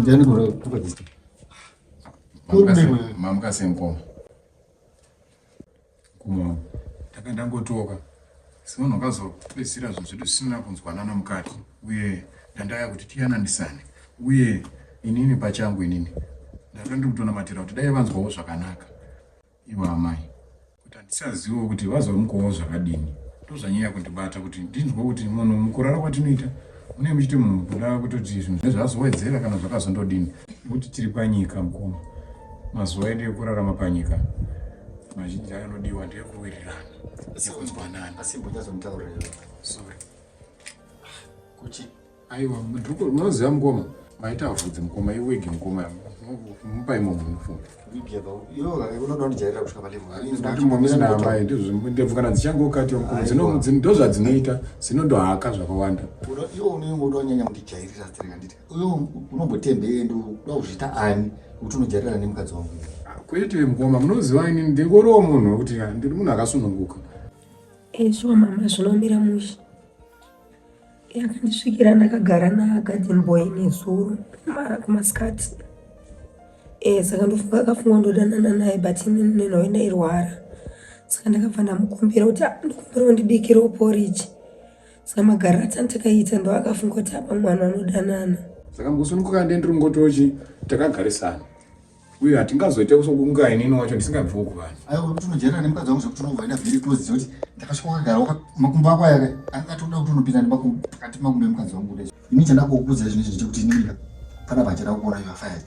Ndiyani kuri kukadzisa? Kuri ndiko. Mamukase mkoma. Kuma. Takandangotoka. Semunhu wakazopedzisira zvinhu zvedu zvisina kunzwanana mukati uye ndandaya kuti tiyananisane uye inini pachangu inini ndaiva ndiri kutonamatira kuti dai vanzwawo zvakanaka ivo amai kuti handisazivo kuti vazomukowo zvakadini ndozvanyanya kundibata kuti ndinzwe kuti munhu mukurara kwatinoita mune muchiti munhu mukuda kutoti zvinhu zve zvazowedzera kana zvakazondodini nekuti tiri panyika mukoma mazuva edu ekurarama panyika mazhinji akanodiwa ndeyekuwirirana sekunzwanana asi mbunyazomutaurira sorry kuti aiwa mudhuku unoziva mukoma maita vhudzi mukoma iwigi mukoma mupai munhu unofunga ndebvu kana dzichangokati ndozvadzinoita zvinondohaka zvakawanda uyo unombotembe ende uda kuzviita ani kuti unojarirana nemukadzi wangu kwete mukoma munoziva ini ndingoriwo munhu wekuti ndiri munhu akasununguka ezvo eh, mama zvinomira mushe yakandisvikira ndakagara nagadin boy nezuro kumasikati eh, saka ndofunga akafunga ndodanana naye but ini nenhoyo ndairwara saka ndakabva ndamukumbira kuti ah, ndikumbira undibikirawo poriji Saka magariro atantakaita ndo akafunga kuti apa mwana anodanana. Saka ngosununguka ndee ndiri ngotochi takagarisana uye hatingazoita kusokunga inini wacho ndisingabvi uku vanhu aiwa kuti unojairana nemukadzi wangu zvekuti unobva enda very close zvekuti ndakasvika wakagara makumbo ako aya angatoda kuti unopinda nemakumbo pakati makumbo emukadzi wangu kudai ini chandakukuudza izvi nezvechekuti inini kana pachada kuona you are fired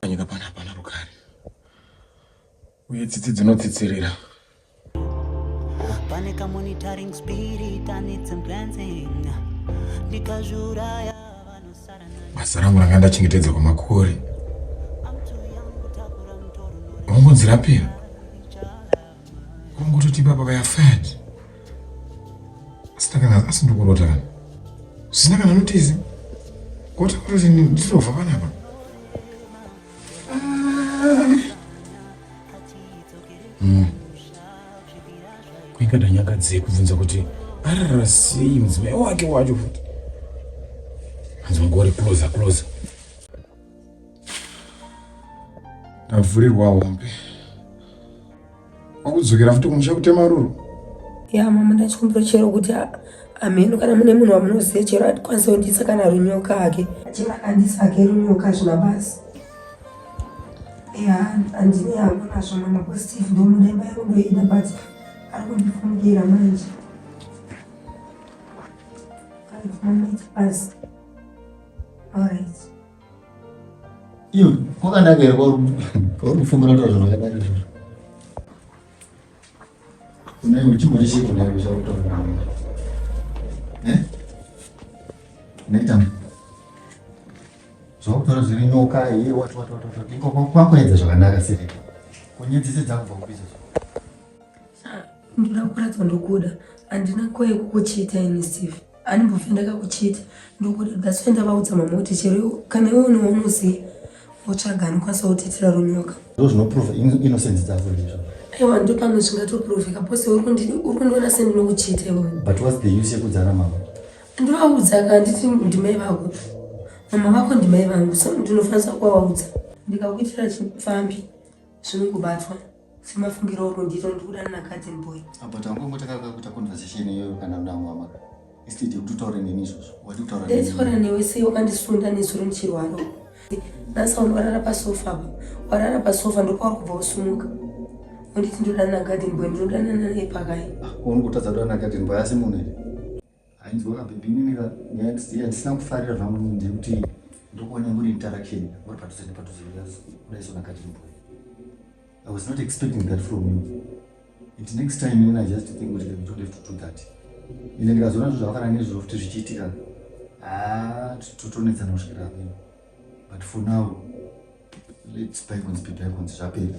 panyika pana pana rugare uye tsitsi dzinotsitsirira pane kamonitoring spirit anitsim glancing ndikazviuraya vanosara basa rangu ranga ndachengetedza kwamakore ungonzirapira Kungototi baba vaya fat. Asina kana asi ndokurota kana. Sina kana notice. Koti kuti ndizova panapa. Mm. Kuika danyaka dzei kubvunza kuti arara sei mudzimai wake wacho futi. Hanzi mugori closer closer. ndavhurirwa hombe wakudzokera futi kumusha kutema ruru ya mama ndachikumbira chero kuti amheno kana mune munhu wamunoziva chero atikwanisa kundiisa kana runyoka ake chero akandiisa ake runyoka zvina basi ya andine yangu nazvo mama positive ndomuda imba yangu ndoida but ari kundifungera manje ari kumamita basi alright Iyo, kwakanaka here kwauri kufumura taura zvinhu zvakadai izvozvo? Unenge uchimhuri chii kudai kuchakutaura? Eh? Unoita zvakutaura zviri nyoka iye wati wati wati wati ikoko kwakuedza zvakanaka siri kunyedzisi dzakubva kubizo ndoda kuratidza ndokuda handina koyekukuchiita ini steve Andimbofe ndakakuchita ndokuda that's why ndavaudza mama kuti chero kana iwe une waunoziva wotsvaga anokwanisa kutetera runyoka zvo zvinoprova innocence dzavo izvo aiwa ndo pamwe zvingatoproveka pose uri kundiona sendinokuchita iwe but whats the use yekudzana mama ndovaudza ka nditi ndimai vako mama vako ndimai vangu so ndinofanisa kuvaudza ndikakuitira chipfambi zvinongobatwa semafungiro oro ndiro ndikuda nanakadzi mboy apa tangongo takaka kuita conversation iyoyo kana mnangu ama instead yekuti utaure neni izvozvo wati utaura ndaitaura newe sei wakandisunda nezuro ndichirwaro nasauni warara pasofa apa warara pasofa ndokwauri kubva usumuka unditi ndoda nanagadin boy ndinoda nananaye pakai ah, uri kutadza kuda nanagadin boy asi munhu here Ainzwa kabhebhi inini yandisina kufarira zvangu nini ndekuti ndokuona muri interaction muri padhuze nepadhuze kudaisona kachimbo i was not expecting that from you it next time inin i just think kuti you don't have to do that ende ndikazoona zvo zvakafana nezviro futi zvichiitika haa totonetsana kusvikira apeno but for now lets bycons be bycons zvapera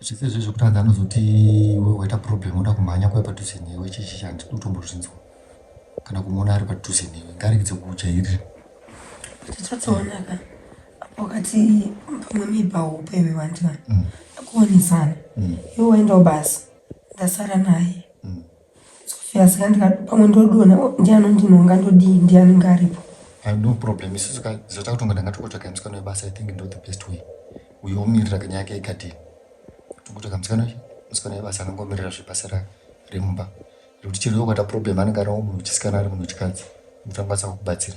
zvese zve zvekutadza anozoti iwe waita problem uda kumhanya kuya padhuze newe chechi chandi utombozvinzwa kana kumuona ari padhuze newe ngaregedze kukujairira tichatoonaka apo kati pamwe miba hope iwe wandina mm. akuonesana mm. iwe waendawo basa ndasara naye Sofia saka ndikati pamwe ndodona ndiani undinonga ndodii ndiani ngaripo. I have no problem isu saka zata kutonga ndanga tokotsvaga musikana webasa I think ndo the best way uyo omirira kanyaya ke ikadini tokotsvaga musikana uyu musikana webasa anenge omirira zvebasa ra remumba rekuti chero yokata problem anenge ari munhu wechisikana ari munhu wechikadzi kuti angakwanisa kukubatsira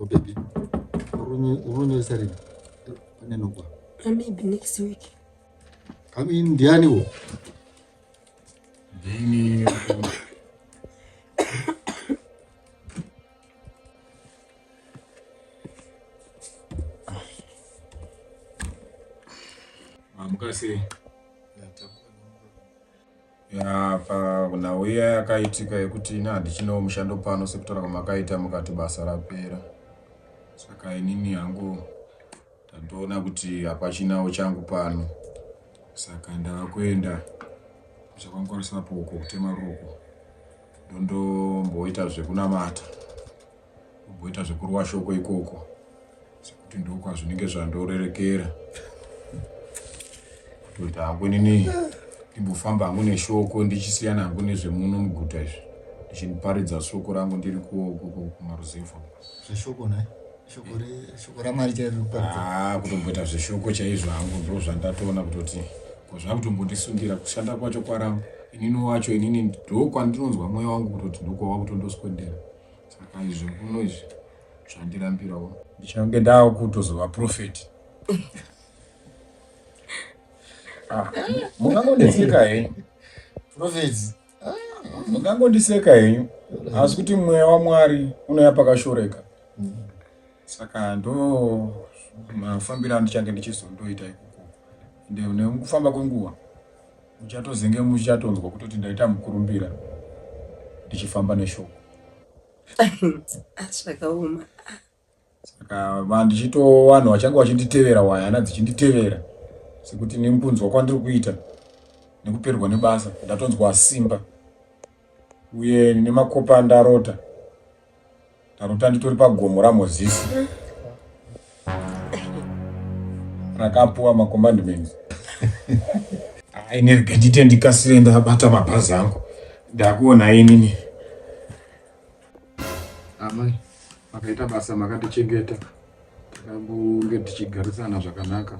Oh, baby. Unonyesa rini? Anenokwa. Uh, maybe next week. I mean, ndiani wo? Ndini. Mukasi. Ya pa nhau iya yakaitika yekuti ini handichinawo mushando pano sekutaura kwamakaita mukati basa rapera. Saka inini hangu ndandoona kuti hapachinawo changu pano. Saka ndava kuenda kuchakwangukarisa apo uko kutema ruko. Ndondomboita zvekunamata. Kumboita zvekurwa shoko ikoko sekuti ndokwazvinenge zvandorerekera kutoita hangu nini ndimbofamba hangu neshoko ndichisiyana hangu nezvemuno muguta izvi ndichiniparidza shoko rangu ndiri kumaruzevha zveshoko naye shoko ramari chairikuaa kutomboita zveshoko chaizvo hangu ndo zvandatoona kutoti ko zvakutombondisundira kushanda kwacho kwarangu inini wacho inini ndokwandinonzwa mweya wangu kutoti ndokwava kutondoswendera Saka izvo kuno izvi zvandirambirawo. Ndichange ndava kutozova profeti. Ah, mungangondiseka henyu profeti mungangondiseka henyu asi kuti mweya wamwari unouya pakashoreka saka ndo mafambiro andichange ndichizondoita ikoko ende nekufamba kwenguva muchatozenge muchatonzwa kutoti ndaita mukurumbira ndichifamba neshoko zvakaoma saka vandichito vanhu vachange vachinditevera waya hana dzichinditevera sekuti nemukunzwa kwandiri kuita nekuperwa nebasa ndatonzwa simba uye nemakopa ndarota Tarota nditori pagomo raMozisi rakapuwa macommandments aine gandite ndikasire ndabata mabhazi angu ndakuona inini amai makaita basa makatichengeta takambonge tichigarisana zvakanaka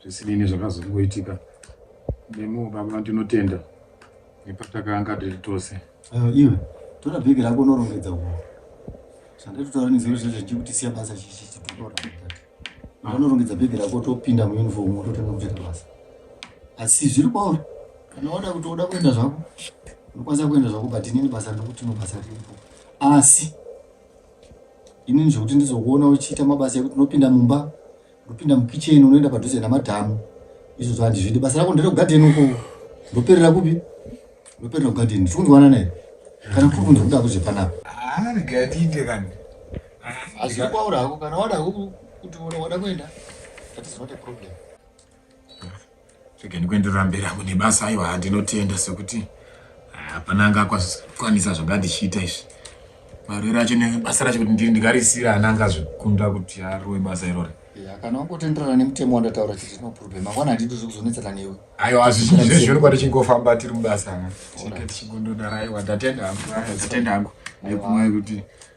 zvisinei nezvakazongoitika nemo baba ndinotenda nepatakanga tiri tose uh, iwe tora bhegi rako unorongedza uko zvandatotaura nezero zvezvo ndichikutisiya basa chichichitorora unorongedza bhegi rako topinda muuniform wototanga kutoita basa asi zviri kwauri kana wada kuti uda kuenda zvako unokwanisa kuenda zvako but inini basa ndokuti no basa riripo asi inini zvekuti ndizokuona uchiita mabasa ekuti unopinda mumba ndopinda mukitchen unoenda padhuze namadhamu izvo zvandizvidi basa rako ndere kugadheni uko ndoperera kupi ndoperera kugadheni tiri kunzwana naye kana kuri kunzi kuda kuzve panapa arigadide kani azikwaurako kana wada kuti wada kuenda that is not a problem Chigeni kuenderera mberi hangu nebasa aiwa handinotenda sekuti hapana anga akwanisa zvanga ndichiita izvi marwere acho nebasa racho kuti ndiri ndikarisira ana anga azvikunda kuti arowe basa irori kana wangotenderana nemutemo wandataura chete no problem mangwana handidi zve kuzonetsana newe aiwa azvizvezvino kwati chingofamba tiri mubasa tichigondodara aiwa ndatenda hangu ndatenda hangu nekumwe kuti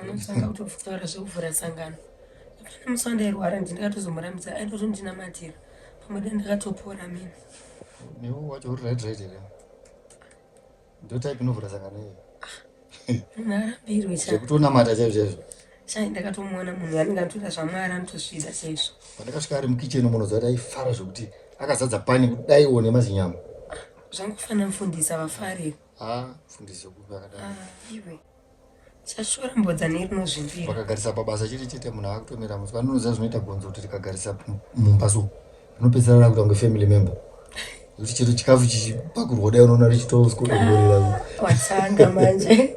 anotanga kutotaura zvekuvhura sangano kana musi wandairwara ndi ndakatozomurambidza aitoto ndinamatira pamwe da ndakatopora mini newe wacho uri right right here ndo type inovhura sangano iyo munhu arambirwe zvekutonamata chaizvo chaizvo chai ndakatomuona munhu anenge anotoita zvamwari anotosvida chaizvo pandakasvika ari mukitchen munoziva kuti aifara zvekuti akazadza pani kudaiwo nemazinyama zvangofanira mufundisa vafariro haa mfundisi wekupi akadai ah, iwe chashora mbodza nerinozvimbira vakagarisa pabasa chete chete munhu akutomira musi vanonoziva zvinoita gonzo kuti rikagarisa mumba so rinopedzisira rakuita kunge family member kuti chero chikafu chichipakurwa dai unoona richitoskuaatanga manje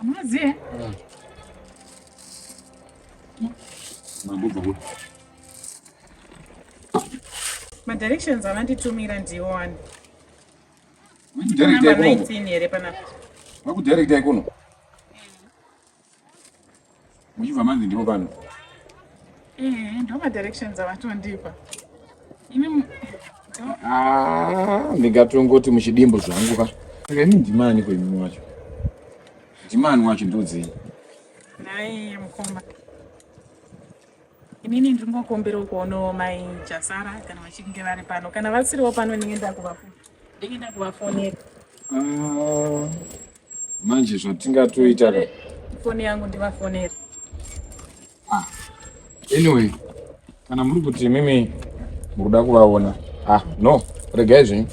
Amunoziva? Mabubva kuti. Madirections avanditumira ndiwo ani. Number 19 here panapa. Makudirecta ikono. Muchibva manzi ndipo pano. Eh, ndo ma directions avatondipa. Ini Ah, ndingatongoti muchidimbo zvangu ka. Saka ini ndimani ko imimi wacho? Ndimani wacho ndodzei? Nhai mukoma. Inini ndingokumbirawo kuonawo mai Jasara kana vachinge vari pano. Kana vasiriwo pano ndinge ndakuvafonera. Ndinge ndakuvafonera. Ah. manje zvatingatoita ka foni yangu ndivafonera ah. anyway kana muri kuti mimi muri kuda kuvaona ah no regai zvenyu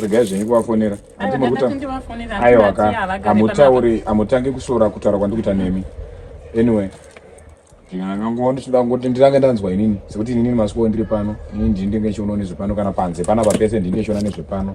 regai zvenyu kuvafonera aiwa ka hamutauri hamutangi kusvora kutaura kwandikuita nemi anyway ndingangoa ndichida kungoti ndirange ndanzwa inini sekuti inini masiko ndiri pano inini ndini ndenge chiona nezvepano kana panze panapa pese ndini ndichiona nezvepano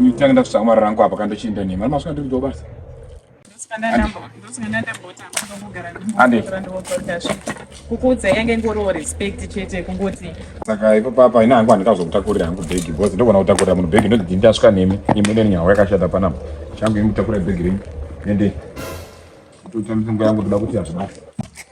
Nditanga ndakutsvaka mari rangu apa kandochienda nemi. Mari masvika ndiri basa. kukuudza yange ingoriwo respect chete kungoti saka ipo papa ina hangu handikazokutakurira hangu bhegi because ndogona kutakurira munhu bhegi ndodii ndasvika nemi imi ine nyahwa yakashata panapa changu imi kutakurira bhegi renyu ende kutotambisa nguva yangu toda kuti hazvinaka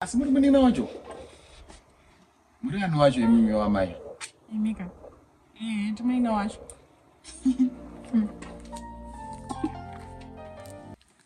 asi muri munini wacho muri ani wacho imimi wamai imika eh, timuine wacho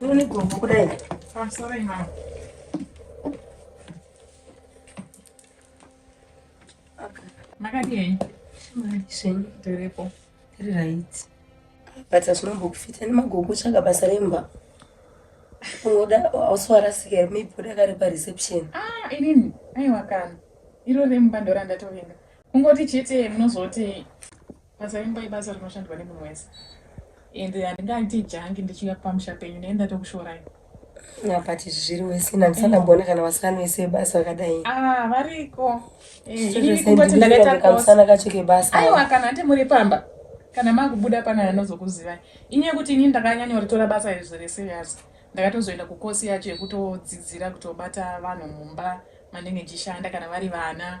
Uni gombo kudai. I'm sorry ma. Makati yenyu? Mari zvenyu. Tiripo. Tiri right. But hazvinombokufita nemagogo tsvaga basa remba. Unoda also warasika here maybe uda kari pa reception. Ah, inini. Aiwa kana. Iro remba ndorandatovinga. Kungoti chete munozoti Basa remba ibasa rinoshandwa nemunhu wese and handingaiti jangi ndichiuya pamusha penyu ndaenda tokushorai apati izvi zviri wese nandisandamboona kana vasana wese vebasa vakadai ah, variko eh, kamusana kacho kebasa aiwa kana hati muri pamba kana makubuda pana anozokuzivai ini yekuti ini ndakanyanyoritora basa iri zviri serious ndakatozoenda kukosi yacho yekutodzidzira kutobata vanhu mumba mandenge ndichishanda kana vari vana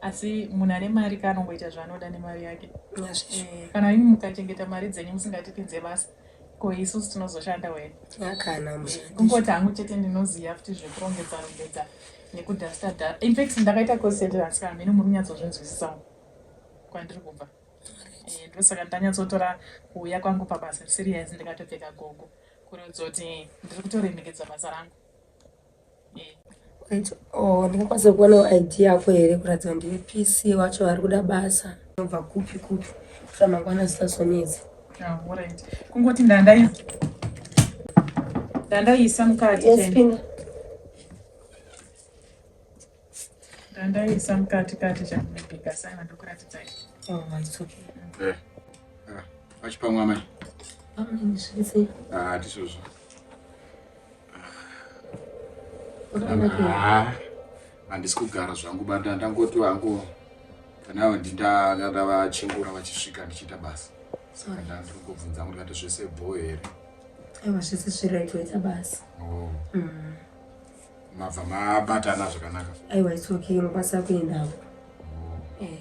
asi munhu ane mari ka anongoita zvaanoda nemari yake eh, kana imi mukachengeta mari dzenyu musingatipinze basa ko isusu tinozoshanda wena eh, kungoti hangu chete ndinoziva futi zvekurongedza rongedza nekudasta da infact ndakaita consentrance kana mhene muri kunyatsozvinzwisisawo kwandiri kubva eh, ndosaka ndanyatsotora kuuya kwangu pabasa serious ndikatopfeka gogo kuratidza kuti ndiri kutoremekedza basa rangu Oh, ndingakwanisa kuonawo id yako here kuratidza ndiwe pc wacho vari kuda basa nobva kupi kupi kuita mangwana zisazonetsi ah, kungoti ndandai ndandaiisa mukati Ndandaisa mukati kati chamubika sana ndokuradzidzai. Oh, it's okay. Eh. Ah, achipamwa mai. Amai zvese. Ah, tisozvo. Ah. Handisi kugara zvangu banda ndangoti wangu kana ndindakada vachingura vachisvika ndichiita basa. Saka ndandiri kubvunza kuti kati zvese bho here. Aiwa zvese zviraitoita basa. Oh. Mm. mabva mabatana zvakanaka aiwa it's okay unokwanisa kuendawo oh. eh.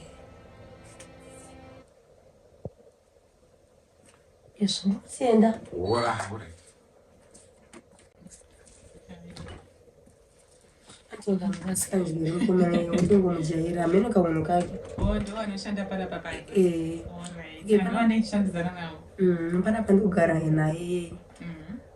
yes ndikusienda ndingomujaira amene kaunhu kake panapa ndikugara naye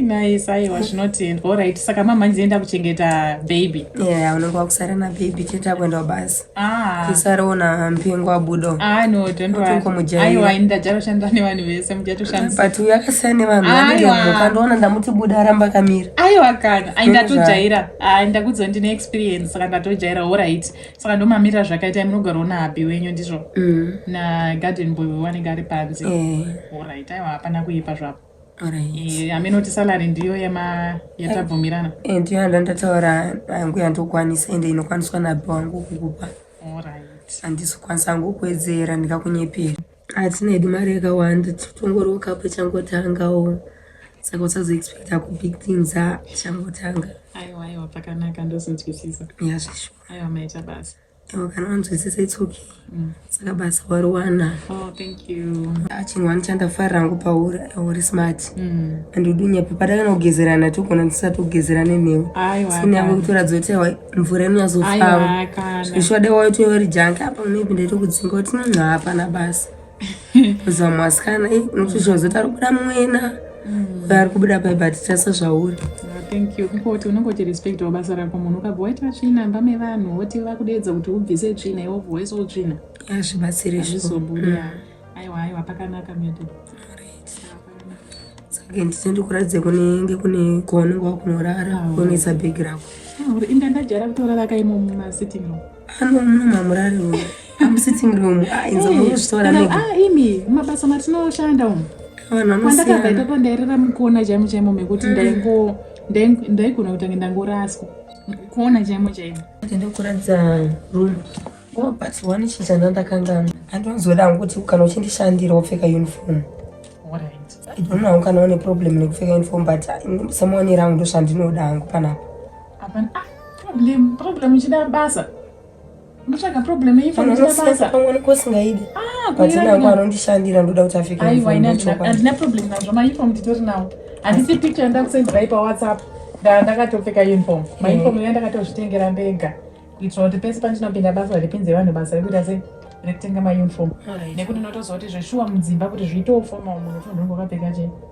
nice aiwa zvinotendwa orit saka mamhanzi enda kuchengeta baby yeah unenge wakusara nababy chete akuendawo basi ah. isaraona mpengo abudo ah, aiwa ini ndajatoshanda nevanhu vese mujatoshandisabut uyo akasiyana nevanhu vandiomukandioona ndamuti buda aramba akamira aiwa kana aindatodyaira ah, ndakudzo ndine experience saka ndatojaira orit saka ndomamira zvakaita munogarwa nahabi wenyu ndizvo mm. nagarden boy wewanenge ari panze eh. orit aiwa hapana kuipa zvapo eh, hameno kuti salary ndiyo yema yatabvumirana eh, ndiyo yanda ndataura yangu yandokwanisa ende inokwaniswa nahabi wangu kukupa orit handisi kukwanisa hangu kuwedzera ndikakunyepera hatina hedu mari yakawanda tongorokapo changotangawo saka usazoexpecta kubig things achangotanga aiwa aiwa pakanaka ndozinzwisisa yazvisho Aiwa maita basa. Oh, kana wanzwisisa it's okay. Mm. Saka basa wariwana. Oh, thank you. Achinwa ndichanda fari rangu pauri uri smart. Mm. And udunya pepa takana kugezerana togona tisati kugezerana newe. Aiwa. Sini yako kutora dzote wa mvura ino yazofamba. Aiwa kana. Zvishwada wayo toyori janka apa unepinda tokudzinga kuti nunha hapana basa. zamu asikana eh, nokuti zvinhu zoti ari kubuda mwena mm. ari kubuda pai but tasa zvauri ah, thank you kuti unenge uchirespectawo basa rako munhu ukabva waita tsvina mba mevanhu woti vakudeedza kuti ubvise tsvina iwo voice utsvina azvibatsiri ah, zvizobuda mm. aiwa aiwa pakanaka myoto saka nditi ndikuratidze kunenge kune kwaunenge wakunorara ah, kunoisa bhegi rako uri inda ndajara kutorara kaimomo masitting room Ano muno mamurari uyu. I'm sitting room. Ah, inza hey, muzvitora nega. Ah, imi mabasa matinoshanda umu. Vanhu vanosiyana. Kwandakabva ipapo ndairara mukona chaimo chaimo mekuti mm. ndaingo ndaigona kutange ndangoraswa. Kuona chaimo chaimo. Ndikuratidza room. Oh, but one chii chandandakanganwa. Andonzoda hangu kuti kana uchindishandira wopfeka uniform. Alright. I don't know kana une problem nekupfeka uniform but ah, someone rangu ndoshandinoda hangu panapa. Hapana ah, problem problem chida basa. Mutsvaga problem iyi fana chida basa. Pamwe kosingaidi. Ah, kuti nangu anondishandira ndoda kuti afike. Aiwa ina andina problem nazvo ma uniform nditori nawo. Handisi picture ndakusendera ipa WhatsApp. Nda ndakatopfeka uniform. Ma eh. uniform ina ndakatozvitengera ndega. Kuitira kuti pese pandinopinda basa ripinze vanhu basa rekuita sei? rekutenga mauniform nekuti unotoziva kuti zveshuwa mudzimba kuti zviitewo formal munhu ufunhu wakapfeka chete